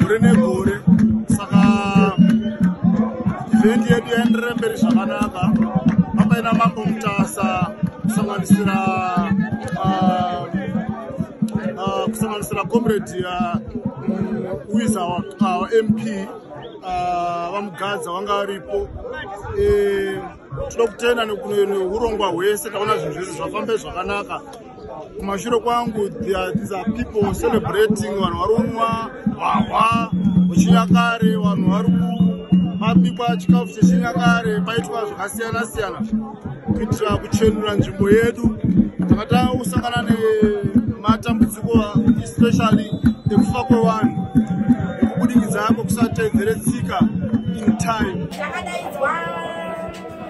gore negore saka event yedu yaenderere mberi zvakanaka papaina mambo mutasa kusanganisira ah, ah, kusanganisira comrade ah, mm, wiza wamp vamugadza wanga aripo eh, tinoda kutenda nehurongwa hwese taona zvinhu zvese zvafambe zvakanaka kumashure kwangu these are people celebrating vanhu vari kunwa hwahwa wechinyakare vanhu vari kubikwa chikafu chechinyakare paitwa zvakasiyana siyana kuitira kuchenura nzvimbo yedu takata kusangana nematambudziko especially ekufa kwevanhu ekubudikidza kwekusatedzere tsika in time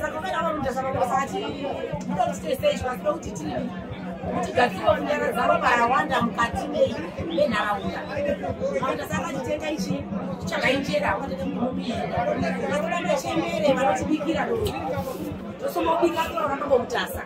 saka kana vanoti zvavakati muda kuti toisei zvasida kuti tii kuti gadzirwa kunyara dzavo parawanda mukati mei menharaunda maunda saka titenga ichi chakainjera vakurambe chembere vanotibikira do tosomobika torakambo mutasa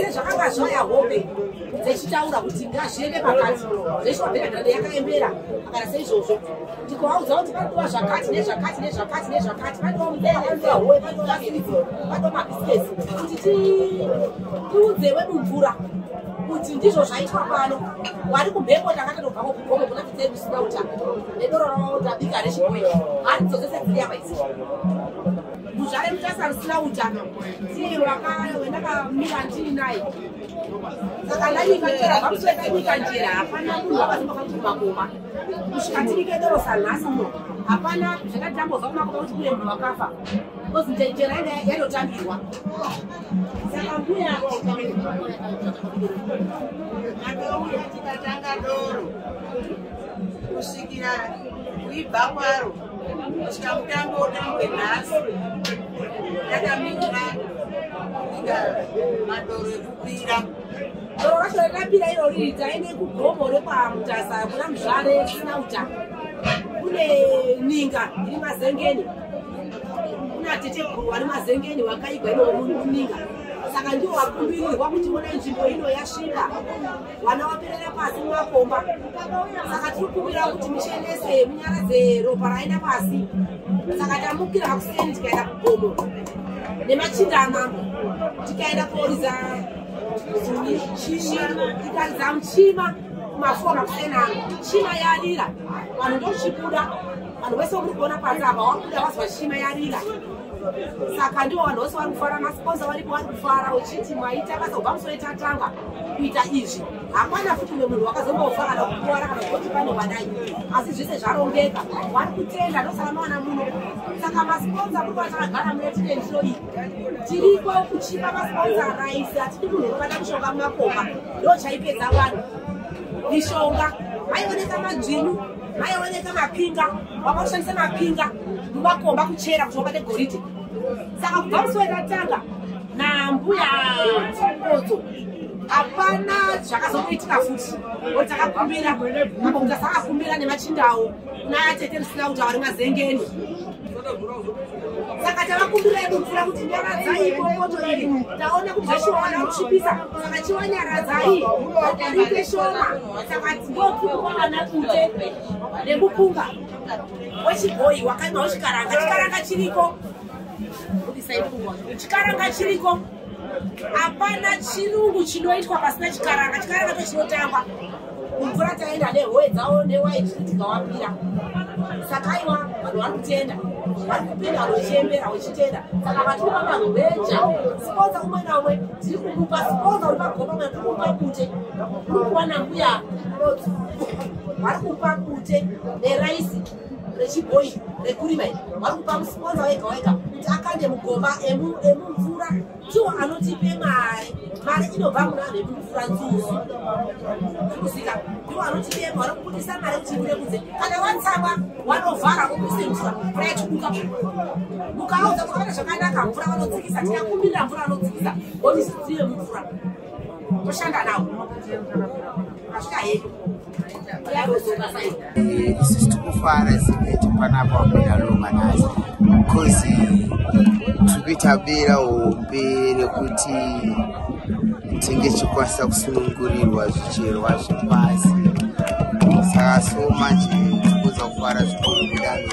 sezvakanga zvaya hope dzechitaura kuti ngazviende pakati zveshoaberadhande yakaembera akana seizvozvo ndikovaudza kuti pandiwa zvakati nezvakati nezvakati nezvakati pandiwa mudeaoe pandiwaaii pandiwa mabhisinesi kuti tiudze wedu mvura kuti ndizvo zvaitwa pano wari kumhepo ndakatatobvako kugomo kuna tidzei kusina uta nedoro ravo ndabika rechikoe haridzozese dziri yava izii muzvare mutasa rusina utano ndiye wakawendakamira ndini naye saka ndaivatora vakusveta nyika njera hapana munhu wakaziva kakumakoma kusvika tiri kedorosa nhasi uno hapana zvakati tambozva kumakoma kuti kune munhu wakafa bcause njera yanga yatotambirwa saka mbuya aouya tikatanga doro kusvikira kuibva kwaro kusvika mutambo utambwe nhasi yakamira kusvika madoro ekukwira doro racho rakapira iro riri taine kugomo rekwamutasa kuna muzvare risina uta kune ninga iri mazengeni kuna teteguru vari mazengeni wakaigwa ino muninga saka ndiwo wakumbirirwa kuti vona nzvimbo ino yasvika vana vaperera pasi mumakomba saka tiri kuvira kuti mishenese munyara dzeropa raenda pasi saka tamukira kuseni tikaenda kugomo nemachinda amambo tikaenda kuoriza ikariza muchima kumafona kuseni ano chima yarira vanhu ndochibuda vanhu vese vakuri kuona pasi apa wakuda vazwa chima yarira saka ndivo vanhu vose vari kufara masponsa varipo vari kufara uchiti maita basa kubva musoitatanga kuita izvi hapana futi umwe munhu wakazombofa kana kukuwara kana kuti pane wadai asi zvese zvarongeka wari kutenda ndosaka mawana muno saka masponsa kuti vachakagara mune titensho iyi tiriko kuchipa masponsa raisi hatidi munhu unobata mushonga mumakomba ndo chaipedza vanhu mishonga maioneka madzvinyu maioneka mapinga wakaushandisa mapinga mumakomba kuchera kuti wabate goridhe saka kubva musi watatanga nambuya chimbodzo hapana zvakazomuitika futi oti takakumbira apa kuti asakakumbira nemachindawo naatete risina kuti avari mazengeni saka tavakumbira edu mvura kuti nyaradzai imomoto iri taona kuti zveshowana kuchipisa saka chiwa nyaradzai adarike shoma saka ndopfukuwa vana kute nemupunga wechibhoyi wakaimao chikaranga chikaranga chiriko chikaranga chiriko hapana chirungu chinoitwa pasina chikaranga chikaranga to chinotangwa mumvura taenda nehoe dzavo newaiti tikawapira saka iwa vanhu vari kutenda vari kupinda wechembera wechitenda saka vatiri vavanhu veja siponza umwe naumwe tiri kumupa siponza uri pagoma mwe kumupa kute uri kuwana mbuya vari kupa kute neraisi rechibhoyi rekurima iri vari kupa musiponza wega wega kuti akande mugomba emumvura tiwo anotipe mari mari inobva muna vanhu vekupfura nzuzu kuzika ndiwo anotipe mari kubudisa mari kuti ipinde kunze kana watsakwa wanovhara wobudise mvura mvura yachibuka mukaudza kuti vana zvakanaka mvura vanodzikisa tikakumbirira mvura vanodzikisa woti zvidzive mumvura toshanda nawo asvika hedu isisi tikufara sikuti panapa wapinda loma nhasi bcause tiri kuita bera hombe rekuti tinge tichikwanisa kusunungurirwa zvicherwa zvepasi saka so manje tikuza kufara zvikuru kudaro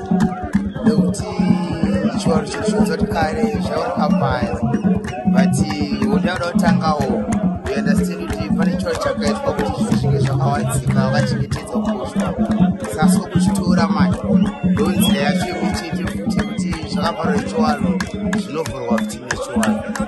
nekuti chivanhu chiri chonzoti kare zvaurokambaya but unoda kuda kutangawo uunderstand kuti pane chivanhu chakaitwa kuti zvinhu zvinge zvakawadzika vakachengetedza kukoshwa sasi kokuchitora manje ndonzira yacho yekuchete futi kuti zvakavharwa nechivanhu zvinovhurwa futi nechivanhu